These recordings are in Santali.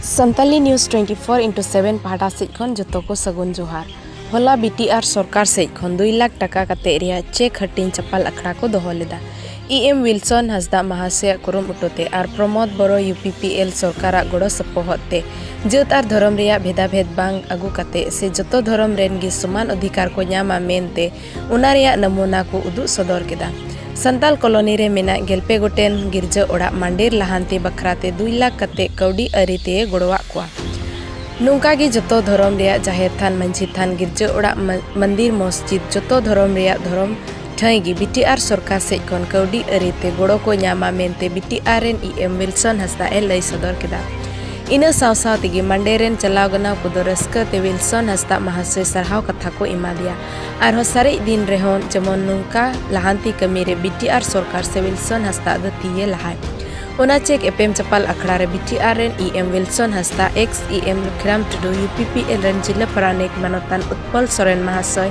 Santali news twenty four into seven ᱯᱟᱦᱴᱟ ᱥᱮᱡ ᱠᱷᱚᱱ ᱡᱚᱛᱚ ᱠᱚ ᱥᱟᱹᱜᱩᱱ ᱡᱚᱦᱟᱨ ᱦᱚᱞᱟ ᱵᱤ ᱴᱤ ᱟᱨ ᱥᱚᱨᱠᱟᱨ ᱥᱮᱡ ᱠᱷᱚᱱ ᱫᱩᱭ ᱞᱟᱠᱷ ᱴᱟᱠᱟ ᱠᱟᱛᱮ ᱨᱮᱭᱟᱜ ᱪᱮᱠ ᱦᱟᱹᱴᱤᱧ ᱪᱟᱯᱟᱞ ᱟᱠᱷᱲᱟ ᱠᱚ ᱫᱚᱦᱚ ᱞᱮᱫᱟ ᱤ ᱮᱢ ᱣᱤᱞᱥᱚᱱ ᱦᱟᱸᱥᱫᱟ ᱢᱟᱦᱟᱥᱚᱭᱟᱜ ᱠᱩᱨᱩᱢᱩᱴᱩ ᱛᱮ ᱟᱨ Pramod Boro U P P L ᱥᱚᱨᱠᱟᱨᱟᱜ ᱜᱚᱲᱚ ᱥᱚᱯᱚᱦᱚᱫ ᱛᱮ ᱡᱟᱹᱛ ᱟᱨ ᱫᱷᱚᱨᱚᱢ ᱨᱮᱭᱟᱜ ᱵᱷᱮᱫᱟ ᱵᱷᱮᱫ ᱵᱟᱝ ᱟᱹᱜᱩ ᱠᱟᱛᱮ ᱥᱮ ᱡᱚᱛᱚ ᱫᱷᱚᱨᱚᱢ ᱨᱮᱱ ᱜᱮ ᱥᱚᱢᱟᱱ ᱚᱫᱷᱤᱠᱟᱨ ᱠᱚ ᱧᱟᱢᱟ ᱢᱮᱱᱛᱮ ᱚᱱᱟ ᱨᱮᱭᱟᱜ ᱱᱟᱢᱩᱱᱟ ᱠᱚ ᱩᱫᱩᱜ ᱥᱚᱫᱚᱨ ᱠᱮᱫᱟ ᱥᱟᱱᱛᱟᱞ ᱠᱚᱞᱚᱱᱤ ᱨᱮ ᱢᱮᱱᱟᱜ ᱜᱮᱞᱯᱮ ᱜᱚᱴᱮᱱ ᱜᱤᱨᱡᱟᱹ ᱚᱲᱟᱜ ᱢᱟᱱᱰᱮᱨ ᱞᱟᱦᱟᱱᱛᱤ ᱵᱟᱠᱷᱨᱟ ᱛᱮ ᱫᱩᱭ ᱞᱟᱠᱷ ᱠᱟᱛᱮ ᱠᱟᱹᱣᱰᱤ ᱟᱹᱨᱤ ᱛᱮ ᱜᱚᱲᱚᱣᱟᱜ ᱠᱚᱣᱟ ᱱᱚᱝᱠᱟ ᱜᱮ ᱡᱚᱛᱚ ᱫᱷᱚᱨᱚᱢ ᱨᱮᱭᱟᱜ ᱡᱟᱦᱮᱨ ᱛᱷᱟᱱ ᱢᱟᱹᱡᱷᱤ ᱛᱷᱟᱱ ᱜᱤᱨᱡᱟᱹ ᱚᱲᱟᱜ ᱢᱚᱱᱫᱤᱨ ᱢᱚᱥᱡᱤᱫ ᱡᱚᱛᱚ ᱫᱷᱚᱨᱚᱢ ᱨᱮᱭᱟᱜ ᱫᱷᱚᱨᱚᱢ ᱴᱷᱟᱹᱭ ᱜᱮ ᱵᱤᱴᱤᱟᱨ ᱥᱚᱨᱠᱟᱨ ᱥᱮᱡ ᱠᱷᱚᱱ ᱠᱟᱹᱣᱰᱤ ᱟᱹᱨᱤ ᱛᱮ ᱜᱚᱲᱚ ᱠᱚ ᱧᱟᱢᱟ ᱢᱮᱱᱛᱮ ᱵᱤᱴᱤᱟᱨ ᱨᱮᱱ ᱤ ᱮᱢ ᱣᱤᱞᱥᱚᱱ ᱦᱟᱸᱥᱫᱟ ᱮ ᱞᱟᱹᱭ ᱥᱚᱫᱚᱨ ᱠᱮᱫᱟ ᱤᱱᱟᱹ ᱥᱟᱶ ᱥᱟᱶ ᱛᱮᱜᱮ ᱢᱟᱱᱰᱮᱨ ᱨᱮᱱ ᱪᱟᱞᱟᱣ ᱜᱟᱱᱟᱣ ᱠᱚᱫᱚ ᱨᱟᱹᱥᱠᱟᱹ ᱛᱮ ᱣᱤᱞᱥᱚᱱ ᱦᱟᱸᱥᱫᱟ ᱢᱟᱦᱟᱥᱚᱭ ᱥᱟᱨᱦᱟᱣ ᱠᱟᱛᱷᱟ ᱠᱚ ᱮᱢᱟᱫᱮᱭᱟ ᱟᱨᱦᱚᱸ ᱥᱟᱨᱮᱡ ᱫᱤᱱ ᱨᱮᱦᱚᱸ ᱡᱮᱢᱚᱱ ᱱᱚᱝᱠᱟ ᱞᱟᱦᱟᱱᱛᱤ ᱠᱟᱹᱢᱤ ᱨᱮ ᱵᱤᱴᱤᱟᱨ ᱥᱚᱨᱠᱟᱨ ᱥᱮ ᱣᱤᱞᱥᱚᱱ ᱦᱟᱸᱥᱫᱟ ᱫᱚ ᱛᱤᱭᱮ ᱞᱟᱦᱟᱭ ᱚᱱᱟ ᱪᱮᱠ ᱮᱯᱮᱢ ᱪᱟᱯᱟᱞ ᱟᱠᱷᱲᱟ ᱨᱮ ᱵᱤᱴᱤᱟᱨ ᱨᱮᱱ E M Wilson Hansda ex E M Lukhiram Tudu U P P L ᱨᱮᱱ ᱡᱤᱞᱟᱹ ᱯᱟᱨᱟᱱᱤᱠ ᱢᱟᱱᱚᱛᱟᱱ ᱩᱛᱯᱚᱞ ᱥᱚᱨᱮᱱ ᱢᱟᱦᱟᱥᱚᱭ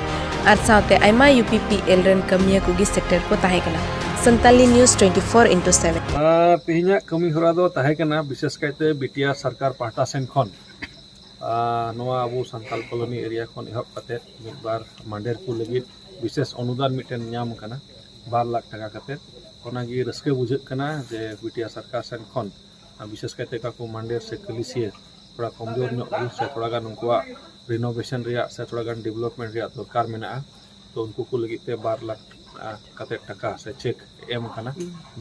ᱟᱨ ᱥᱟᱶᱛᱮ ᱟᱭᱢᱟ ᱭᱩ ᱯᱤ ᱯᱤ ᱮᱞ ᱨᱮᱱ ᱠᱟᱹᱢᱤᱭᱟᱹ ᱠᱚᱜᱮ ᱥᱮᱴᱮᱨ ᱠᱚ ᱛᱟᱦᱮᱸ ᱠᱟᱱᱟ Santali news twenty four into seven ᱛᱮᱦᱮᱧᱟᱜ ᱠᱟᱹᱢᱤ ᱦᱚᱨᱟ ᱫᱚ ᱛᱟᱦᱮᱸ ᱠᱟᱱᱟ ᱵᱤᱥᱮᱥ ᱠᱟᱭᱛᱮ ᱵᱤᱴᱤᱟᱨ ᱥᱚᱨᱠᱟᱨ ᱯᱟᱦᱴᱟ ᱥᱮᱱ ᱠᱷᱚᱱ ᱱᱚᱣᱟ ᱟᱵᱚ ᱥᱟᱱᱛᱟᱞ ᱠᱚᱞᱚᱱᱤ ᱮᱨᱤᱭᱟ ᱠᱷᱚᱱ ᱮᱦᱚᱵ ᱠᱟᱛᱮᱫ ᱢᱤᱫ ᱵᱟᱨ ᱢᱟᱰᱮᱨ ᱠᱚ ᱞᱟᱹᱜᱤᱫ ᱵᱤᱥᱮᱥ ᱚᱱᱩᱫᱟᱱ ᱢᱤᱫᱴᱮᱱ ᱧᱟᱢ ᱠᱟᱱᱟ ᱵᱟᱨ ᱞᱟᱠᱷ ᱴᱟᱠᱟ ᱠᱟᱛᱮᱫ ᱚᱱᱟᱜᱮ ᱨᱟᱹᱥᱠᱟᱹ ᱵᱩᱡᱷᱟᱹᱜ ᱠᱟᱱᱟ ᱡᱮ ᱵᱤᱴᱤᱭᱟ ᱥᱚᱨᱠᱟᱨ ᱥᱮᱱ ᱠᱷᱚᱱ ᱵᱤᱥᱮᱥ ᱠᱟᱭᱛᱮ ᱚᱠᱟ ᱠᱚ ᱢᱟᱰᱮᱨ ᱥᱮ ᱠᱟᱹᱞᱤᱥᱤᱭᱟᱹ ᱛᱷᱚᱲᱟ ᱠᱚᱢᱡᱳᱨ ᱧᱚᱜ ᱜᱮ ᱥᱮ ᱛᱷᱚᱲᱟ ᱜᱟᱱ ᱩᱱᱠᱩᱣᱟᱜ ᱨᱤᱱᱳᱵᱷᱮᱥᱚᱱ ᱨᱮᱭᱟᱜ ᱥᱮ ᱛᱷᱚᱲᱟ ᱜᱟᱱ ᱰᱮᱵᱷᱞᱚᱯᱢᱮᱱᱴ ᱨᱮᱭᱟᱜ ᱫᱚᱨᱠᱟᱨ ᱢᱮᱱᱟᱜᱼᱟ ᱛᱚ ᱩᱱᱠᱩ ᱠᱚ ᱞᱟᱹᱜᱤᱫ ᱛᱮ ᱵᱟᱨ ᱞᱟᱠᱷ ᱠᱟᱛᱮᱫ ᱴᱟᱠᱟ ᱥᱮ ᱪᱮᱠ ᱮᱢ ᱠᱟᱱᱟ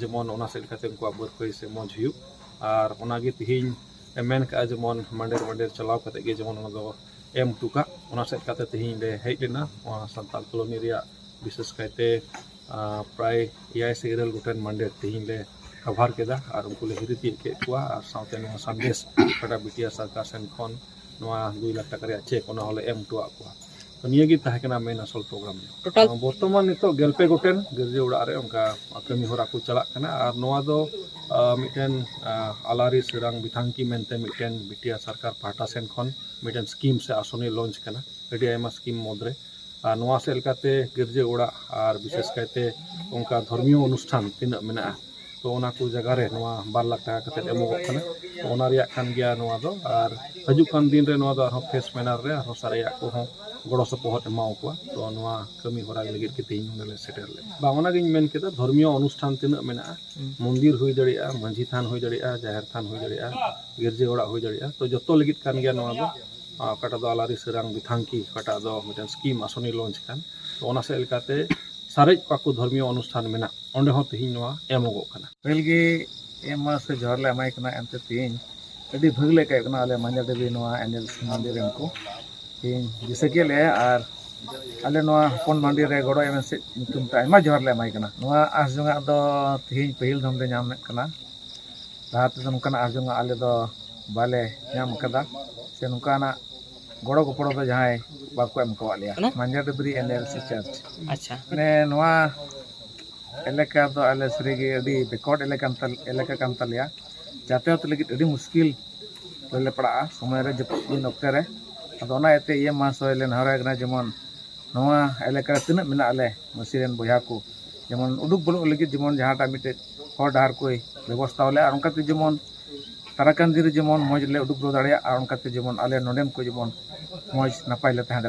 ᱡᱮᱢᱚᱱ ᱚᱱᱟ ᱥᱮᱫ ᱞᱮᱠᱟᱛᱮ ᱩᱱᱠᱩᱣᱟᱜ ᱵᱟᱹᱫᱽ ᱵᱟᱹᱭᱦᱟᱹᱲ ᱥᱮ ᱢᱚᱡᱽ ᱦᱩᱭᱩᱜ ᱟᱨ ᱚᱱᱟᱜᱮ ᱛᱮᱦᱮᱧ ᱮ ᱢᱮᱱ ᱠᱟᱜᱼᱟ ᱡᱮᱢᱚᱱ ᱢᱟᱰᱮᱨ ᱢᱟᱰᱮᱨ ᱪᱟᱞᱟᱣ ᱠᱟᱛᱮ ᱜᱮ ᱡᱮᱢᱚᱱ ᱚᱱᱟ ᱫᱚ ᱮᱢ ᱦᱚᱴᱚ ᱠᱟᱜ ᱚᱱᱟ ᱥᱮᱫ ᱠᱟᱛᱮ ᱛᱮᱦᱮᱧ ᱞᱮ ᱦᱮᱡ ᱞᱮᱱᱟ ᱱᱚᱣᱟ ᱥᱟᱱᱛᱟᱲ ᱠᱚᱞᱳᱱᱤ ᱨᱮᱭᱟᱜ ᱵᱤᱥᱮᱥ ᱠᱟᱭᱛᱮ ᱯᱨᱟᱭ ᱮᱭᱟᱭ ᱥᱮ ᱤᱨᱟᱹᱞ ᱜᱚᱴᱮᱱ ᱢᱟᱰᱮᱨ ᱛᱮᱦᱮᱧ ᱞᱮ ᱠᱟᱵᱷᱟᱨ ᱠᱮᱫᱟ ᱟᱨ ᱩᱱᱠᱩ ᱞᱮ ᱦᱤᱨᱤ ᱛᱤᱭᱳᱜ ᱠᱮᱫ ᱠᱚᱣᱟ ᱟᱨ ᱥᱟᱶᱛᱮ ᱱᱚᱣᱟ ᱥᱟᱸᱫᱮᱥ ᱚᱠᱟᱴᱟᱜ ᱵᱤᱴᱤ ᱟᱨ ᱥᱚᱨᱠᱟᱨ ᱥᱮᱱ ᱠᱷᱚᱱ ᱱᱚᱣᱟ ᱫᱩᱭ ᱞᱟᱠᱷ ᱴᱟᱠᱟ ᱨᱮᱭᱟᱜ ᱪᱮᱠ ᱚᱱᱟ ᱦᱚᱸᱞᱮ ᱮᱢ ᱦᱚᱴᱚᱣᱟᱜ ᱠᱚᱣᱟ ᱛᱚ ᱱᱤᱭᱟᱹ ᱜᱮ ᱛᱟᱦᱮᱸ ᱠᱟᱱᱟ ᱢᱮᱱ ᱟᱥᱚᱞ ᱯᱨᱳᱜᱨᱟᱢ ᱫᱚ ᱴᱳᱴᱟᱞ ᱵᱚᱨᱛᱚᱢᱟᱱ ᱱᱤᱛᱚᱜ ᱜᱮᱞᱯᱮ ᱜᱚᱴᱮᱱ ᱜᱤᱨᱡᱟᱹ ᱚᱲᱟᱜ ᱨᱮ ᱚᱱᱠᱟ ᱠᱟᱹᱢᱤ ᱦᱚᱨᱟ ᱠᱚ ᱪᱟᱞᱟᱜ ᱠᱟᱱᱟ ᱟᱨ ᱱᱚᱣᱟ ᱫᱚ ᱢᱤᱫᱴᱮᱱ ᱟᱞᱟᱨᱤ ᱥᱮᱨᱟᱝ ᱵᱤᱛᱷᱟᱝᱠᱤ ᱢᱮᱱᱛᱮ ᱢᱤᱫᱴᱮᱱ ᱵᱤᱴᱤᱟᱨ ᱥᱚᱨᱠᱟᱨ ᱯᱟᱦᱴᱟ ᱥᱮᱱ ᱠᱷᱚᱱ ᱢᱤᱫᱴᱮᱱ ᱥᱠᱤᱢ ᱥᱮ ᱟᱥᱚᱱᱤ ᱞᱚᱧᱪ ᱠᱟᱱᱟ ᱟᱹᱰᱤ ᱟᱭᱢᱟ ᱥᱠᱤᱢ ᱢᱩᱫᱽᱨᱮ ᱟᱨ ᱱᱚᱣᱟ ᱥᱮᱫ ᱞᱮᱠᱟᱛᱮ ᱜᱤᱨᱡᱟᱹ ᱚᱲᱟᱜ ᱟᱨ ᱵᱤᱥᱮᱥ ᱠᱟᱭᱛᱮ ᱚᱱᱠᱟ ᱫᱷᱚᱨᱢᱤᱭᱚ ᱚᱱᱩᱥᱴᱷᱟᱱ ᱛᱤᱱᱟᱹᱜ ᱢᱮᱱᱟᱜᱼᱟ ᱛᱚ ᱚᱱᱟ ᱠᱚ ᱡᱟᱭᱜᱟ ᱨᱮ ᱱᱚᱣᱟ ᱵᱟᱨ ᱞᱟᱠᱷ ᱴᱟᱠᱟ ᱠᱟᱛᱮᱫ ᱮᱢᱚᱜᱚᱜ ᱠᱟᱱᱟ ᱛᱚ ᱚᱱᱟ ᱨᱮᱭᱟᱜ ᱠᱟᱱ ᱜᱮᱭᱟ ᱱᱚᱣᱟ ᱫᱚ ᱟᱨ ᱦᱤᱡᱩᱜ ᱠᱟᱱ ᱫᱤᱱ ᱨᱮ ᱱᱚᱣᱟ ᱫᱚ ᱟᱨᱦᱚᱸ ᱯᱷᱮᱥ ᱢᱮᱱᱟᱨ ᱨᱮ ᱟᱨᱦᱚᱸ ᱥᱟᱨᱮᱡᱟᱜ ᱠᱚᱦᱚᱸ ᱜᱚᱲᱚ ᱥᱚᱯᱚᱦᱚᱫ ᱮᱢᱟᱣ ᱠᱚᱣᱟ ᱛᱚ ᱱᱚᱣᱟ ᱠᱟᱹᱢᱤ ᱦᱚᱨᱟ ᱞᱟᱹᱜᱤᱫ ᱜᱮ ᱛᱮᱦᱮᱧ ᱱᱚᱰᱮ ᱞᱮ ᱥᱮᱴᱮᱨ ᱞᱮᱱᱟ ᱵᱟᱝ ᱚᱱᱟ ᱜᱤᱧ ᱢᱮᱱ ᱠᱮᱫᱟ ᱫᱷᱚᱨᱢᱤᱭᱚ ᱚᱱᱩᱥᱴᱷᱟᱱ ᱛᱤᱱᱟᱹᱜ ᱢᱮᱱᱟᱜᱼᱟ ᱢᱚᱱᱫᱤᱨ ᱦᱩᱭ ᱫᱟᱲᱮᱭᱟᱜᱼᱟ ᱢᱟᱹᱡᱷᱤ ᱛᱷᱟᱱ ᱦᱩᱭ ᱫᱟᱲᱮᱭᱟᱜᱼᱟ ᱡᱟᱦᱮᱨ ᱛᱷᱟᱱ ᱦᱩᱭ ᱫᱟᱲᱮᱭᱟᱜᱼᱟ ᱜᱤᱨᱡᱟᱹ ᱚᱲᱟᱜ ᱦᱩᱭ ᱫᱟᱲᱮᱭᱟᱜᱼᱟ ᱛᱚ ᱡᱚᱛᱚ ᱞᱟᱹᱜᱤᱫ ᱠᱟᱱ ᱜᱮᱭᱟ ᱱᱚᱣᱟ ᱫᱚ ᱟᱨ ᱚᱠᱟᱴᱟᱜ ᱫᱚ ᱟᱞᱟᱨᱤ ᱥᱟᱹᱨᱟᱝ ᱵᱤᱛᱷᱟᱝᱠᱤ ᱚᱠᱟᱴᱟᱜ ᱫᱚ ᱢᱤᱫᱴᱮᱱ ᱥᱠᱤᱢ ᱟᱥᱚᱱᱤ ᱞᱚᱱᱪ ᱟᱠᱟᱱ ᱛᱚ ᱚᱱᱟ ᱥᱮᱫ ᱞᱮᱠᱟᱛᱮ ᱥᱟᱨᱮᱡ ᱠᱚᱣᱟ ᱠᱚ ᱫᱷᱚᱨᱢᱤᱭᱚ ᱚᱱᱩᱥᱴᱷᱟᱱ ᱢᱮᱱᱟᱜ ᱚᱸᱰᱮ ᱦᱚᱸ ᱛᱮᱦᱮᱧ ᱱᱚᱣᱟ ᱮᱢᱚᱜᱚᱜ ᱠᱟᱱᱟ ᱯᱟᱹᱦᱤᱞ ᱜᱮ ᱮᱢ ᱢᱟ ᱥᱮ ᱡᱚᱦᱟᱨ ᱞᱮ ᱮᱢᱟᱭ ᱠᱟᱱᱟ ᱮᱱᱛᱮ ᱛᱮᱦᱮᱧ ᱟᱹᱰᱤ ᱵᱷᱟᱹᱜᱤ ᱞᱮ ᱟᱹᱭᱠᱟᱹᱣᱮᱫ ᱠᱟᱱᱟ ᱟᱞᱮ ᱢᱟᱧᱡᱟᱨ ᱫᱮᱵᱤ ᱱᱚᱣᱟ ᱮᱱᱮᱞ ᱢᱟᱹᱱᱰᱤ ᱨᱮᱱ ᱠᱚ ᱛᱮᱦᱮᱧ ᱫᱤᱥᱟᱹ ᱠᱮᱫ ᱞᱮᱭᱟ ᱟᱨ ᱟᱞᱮ ᱱᱚᱣᱟ ᱦᱚᱯᱚᱱ ᱢᱟᱹᱱᱰᱤ ᱨᱮ ᱜᱚᱲᱚ ᱮᱢ ᱥᱮᱫ ᱧᱩᱛᱩᱢ ᱛᱮ ᱟᱭᱢᱟ ᱡᱚᱦᱟᱨ ᱞᱮ ᱮᱢᱟᱭ ᱠᱟᱱᱟ ᱱᱚᱣᱟ ᱟᱸᱥ ᱡᱚᱝᱟᱜ ᱫᱚ ᱛᱮᱦᱮᱧ ᱯᱟᱹᱦᱤᱞ ᱫᱷᱚᱢ ᱞᱮ ᱧᱟᱢᱮᱫ ᱠᱟᱱᱟ ᱞᱟᱦᱟ ᱛᱮᱫᱚ ᱱᱚᱝᱠᱟᱱᱟᱜ ᱟᱸᱥ ᱡᱚᱝᱟᱜ ᱟᱞᱮ ᱫᱚ ᱵᱟᱞᱮ ᱧᱟᱢ ᱟᱠᱟᱫᱟ ᱥᱮ ᱱᱚᱝᱠᱟᱱᱟᱜ ᱜᱚᱲᱚ ᱜᱚᱯᱚᱲᱚ ᱫᱚ ᱡᱟᱦᱟᱸᱭ ᱵᱟᱠᱚ ᱮᱢ ᱠᱟᱣᱟᱫ ᱞᱮᱭᱟ ᱢᱟᱸᱡᱟᱱ W N L C church ᱟᱪᱪᱷᱟ ᱢᱟᱱᱮ ᱱᱚᱣᱟ ᱮᱞᱟᱠᱟ ᱫᱚ ᱟᱞᱮ ᱥᱟᱹᱨᱤᱜᱮ ᱟᱹᱰᱤ ᱵᱮᱠᱚᱴ ᱮᱞᱟᱠᱟ ᱮᱞᱟᱠᱟ ᱠᱟᱱ ᱛᱟᱞᱮᱭᱟ ᱡᱟᱛᱟᱭᱟᱛ ᱞᱟᱹᱜᱤᱫ ᱟᱹᱰᱤ ᱢᱩᱥᱠᱤᱞ ᱨᱮᱞᱮ ᱯᱟᱲᱟᱜᱼᱟ ᱥᱚᱢᱚᱭ ᱨᱮ ᱡᱟᱹᱯᱩᱫ ᱫᱤᱱ ᱚᱠᱛᱮ ᱨᱮ ᱟᱫᱚ ᱚᱱᱟ ᱤᱭᱟᱹᱛᱮ ᱤᱭᱟᱹ ᱢᱟᱦᱟᱥᱚᱭ ᱞᱮ ᱱᱮᱦᱚᱨᱟᱭ ᱠᱟᱱᱟ ᱡᱮᱢᱚᱱ ᱱᱚᱣᱟ ᱮᱞᱟᱠᱟ ᱨᱮ ᱛᱤᱱᱟᱹᱜ ᱢᱮᱱᱟᱜ ᱞᱮ ᱢᱟᱹᱥᱤ ᱨᱮᱱ ᱵᱚᱭᱦᱟ ᱠᱚ ᱡᱮᱢᱚᱱ ᱩᱰᱩᱠ ᱵᱚᱞᱚᱜ ᱞᱟᱹᱜᱤᱫ ᱡᱮᱢᱚᱱ ᱡᱟᱦᱟᱸᱴᱟᱜ ᱢᱤᱫᱴᱮᱡ ᱦᱚᱨ ᱰᱟᱦᱟᱨ ᱠᱚᱭ ᱵᱮᱵᱚᱥᱛᱷᱟ ᱟᱞᱮᱭᱟ ᱟᱨ ᱚᱱᱠᱟᱛᱮ ᱡᱮᱢᱚᱱ ᱛᱟᱨᱟ ᱠᱟᱱᱫᱷᱤ ᱨᱮ ᱡᱮᱢᱚᱱ ᱢᱚᱡᱽ ᱞᱮ ᱩᱰᱩᱠ ᱫᱟᱲᱮᱭᱟᱜᱼᱟ ᱚᱱᱠᱟᱛᱮ ᱡᱮᱢᱚᱱ ᱟᱞᱮ ᱱᱚᱰᱮᱱ ᱠᱚ ᱡᱮᱢᱚᱱ ᱢᱚᱡᱽ ᱱᱟᱯᱟᱭ ᱞᱮ ᱛᱟᱦᱮᱸ ᱫᱟᱲᱮᱭᱟᱜᱼᱟ